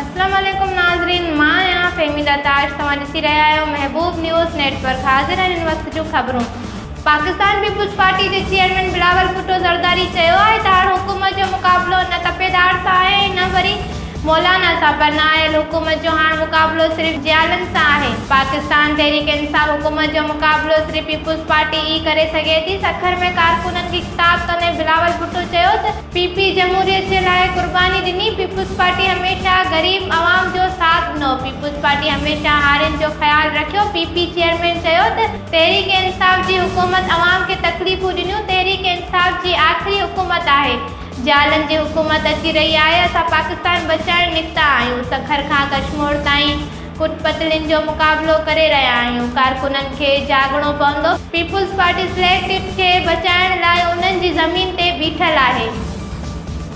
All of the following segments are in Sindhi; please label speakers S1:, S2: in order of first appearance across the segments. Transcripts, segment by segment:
S1: اسلام عليڪم ناظرين مان آهيان فهميده تاج توهان ڏسي رهيا آهيو محبوب نيوز نيٽ ورڪ حاضر آهن هن وقت جون خبرون پاڪستان پيپلز پارٽي جي چيئرمين بلاول ڀٽو زرداري چيو آهي ته هاڻ حڪومت جو مقابلو نه تپيدار سان آهي نه وري مولانا سان پر نااهل حڪومت جو هاڻ مقابلو صرف جيالن سان آهي. پاڪستان تحريڪ انصاف حڪومت جو مقابلو صرف پيپلز پارٽي ئي ڪري سگهي ٿي. سکر ۾ ڪارڪنن کي خطاب ڪندي بلاول ڀٽو چيو ته. پي پي جمهوريت جي لاء قرباني ڏني، پيپلز پارٽي هميشه غريب عوام جو ساٿ ڏنو، پيپلز پارٽي هميشه هارين جو خيال رکيو، پي پي چيئرمين چيو ته. تحريڪ انصاف جي حڪومت عوام کي تڪليفون ڏنيون، تحريڪ انصاف جي آخري حڪومت آهي. جهلن جي حڪومت اچي رهي آهي اسان پاڪستان بچائڻ نڪتا آهيون سکر کان ڪشمور تائين ڪٽ پتلين جو مقابلو ڪري رهيا آهيون ڪارڪنن کي جاڳڻو پوندو. پيپلز پارٽي سليڪٽ ٽپ کي بچائڻ لاء انهن جي زمين تي بيٺل آهي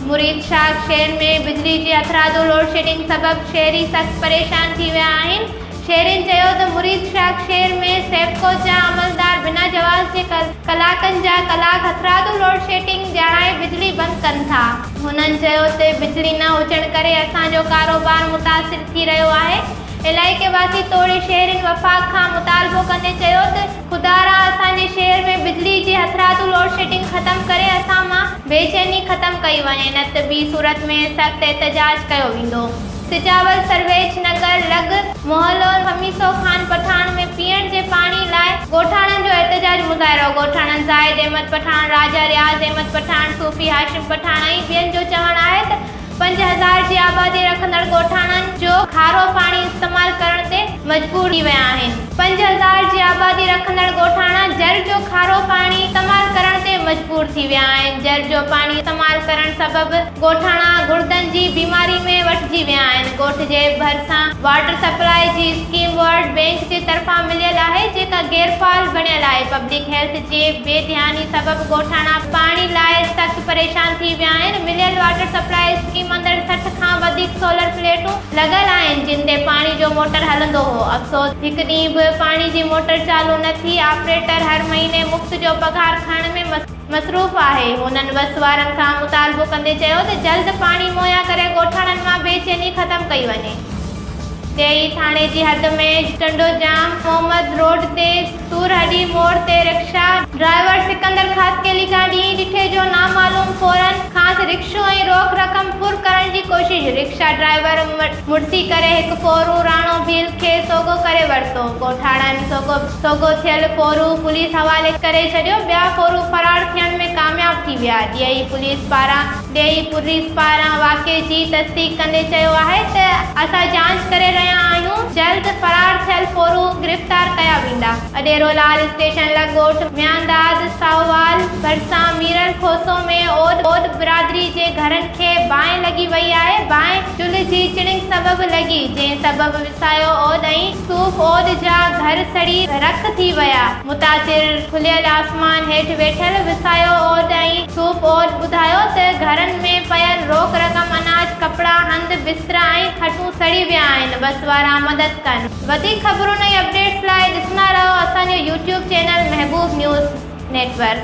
S1: مريد شاخ شهر ۾ بجلي جي هٿرادو لوڊشيڊنگ سبب شهري سخت پريشان ٿي ويا آهن شيرين چيو ته مريد شاخ شهر ۾ سيپڪو جا عملدار بنا جواز جي ڪلاڪن جا ڪلاڪ هٿرادو لوڊشيٽنگ ڄاڻائي بجلي بند ڪن ٿا. هنن چيو ته بجلي نه هجڻ ڪري اسان جو ڪاروبار متاثر ٿي رهيو آهي، علائقي واسين توڙي شهرين وفاق کان مطالبو ڪندي چيو ته خدارا اسان جي شهر ۾ بجلي جي هٿرادو لوڊشيٽنگ ختم ڪري اسان مان بيچيني ختم ڪئي وڃي نه ته ٻي صورت ۾ سخت احتجاج ڪيو ويندو. سجاول سرويچ نگر لڳ محلو خميسو خان پٺاڻ ۾ پيئڻ جي پاڻي لاء ڳوٺاڻن جو احتجاجي مظاهرو ڳوٺاڻن زاهد احمد پٺاڻ، راجا رياض احمد پٺاڻ، صوفي هاشم پٺاڻ ۽ ٻين جو چوڻ آهي ته پنج هزار جي آبادي رکندڙ ڳوٺاڻن جو کارو پاڻي استعمال ڪرڻ تي مجبور ٿي ويا آهن. پنج هزار جي آبادي رکندڙ ڳوٺاڻا جر جو کارو پاڻي استعمال ڪرڻ تي مجبور ٿي ويا آهن جر جو پاڻي استعمال ڪرڻ سبب ڳوٺاڻا گڙدن جي بيماري ۾ وٺجي ويا آهن ڳوٺ جي ڀرسان واٽر سپلاء جي اسڪيم ورلڊ بينڪ جي طرفان مليل آهي جيڪا غير فعال بڻيل آهي پبلڪ هيلٿ جي بي ڌياني سبب ڳوٺاڻا پاڻي لاء سخت پريشان ٿي ويا آهن مليل واٽر سپلاء اسڪيم اندر سٺ کان وڌيڪ سولر پليٽون لڳل آهن جن تي پاڻي جو موٽر هلندو هو افسوس هڪ ڏينهن به پاڻي جي موٽر چالو نه ٿي آپريٽر هر مهيني مفت جو پگهار کڻڻ ۾ مصروف آهي، هنن وس وارن کان مطالبو ڪندي چيو ته جلد پاڻي مهيا ڪري ڳوٺاڻن مان بي چيني ختم ڪئي وڃي. ڊي اي ٿاڻي جي حد ۾ ٽنڊو جام محمد روڊ تي سور هڏي موڙ تي رڪشا. ڊرائيور سڪندر خاصخيلي کان ڏينهن ڏٺي جو نامعلوم ڦورن کانئس رڪشو ۽ روڪ رقم ڦر ڪرڻ جي ڪوشش، رڪشا ڊرائيور مڙسي ڪري هڪ ڦورون راڻو ڀيل کي سوگهو ڪري ورتو، ڳوٺاڻن سوگهو. سوگهو ٿيل ڦورو پوليس حوالي ڪري ڇڏيو، ٻيا ڦورو فرار ٿيڻ ۾ ڪامياب ٿي ويا، ڊيئي پوليس پاران ڊيئي پوريس پاران واقعي جي تصديق ڪندي چيو آهي ته اسان جاچ ڪري رهيا آهيون، جلد فرار ٿيل ڦورو گرفتار ڪيا ويندا. اڏيرو لال اسٽيشن لڳ ڳوٺ ميانداد ساهووال ڀرسان ميرل کوسو ۾ اوڏ برادري جي گهرن کي باهه لڳي وئي آهي، باهه چلهه جي چڻنگ سبب لڳي، جنهن سبب وسايو اوڏ ۽. صوف عود جا گهر سڙي رک ٿي ويا. متاثر کليل آسمان هيٺ ويٺل وسايو عود ۽ صوف عود ٻڌايو ته گهرن ۾ پيل روڪ رقم، اناج، ڪپڙا، هنڌ بسترا ۽ کٽون سڙي ويا آهن بس وارا مدد ڪن. وڌيڪ خبرون ۽ اپڊيٽس لاء ڏسندا رهو اسان جو YouTube channel Mehboob news net work.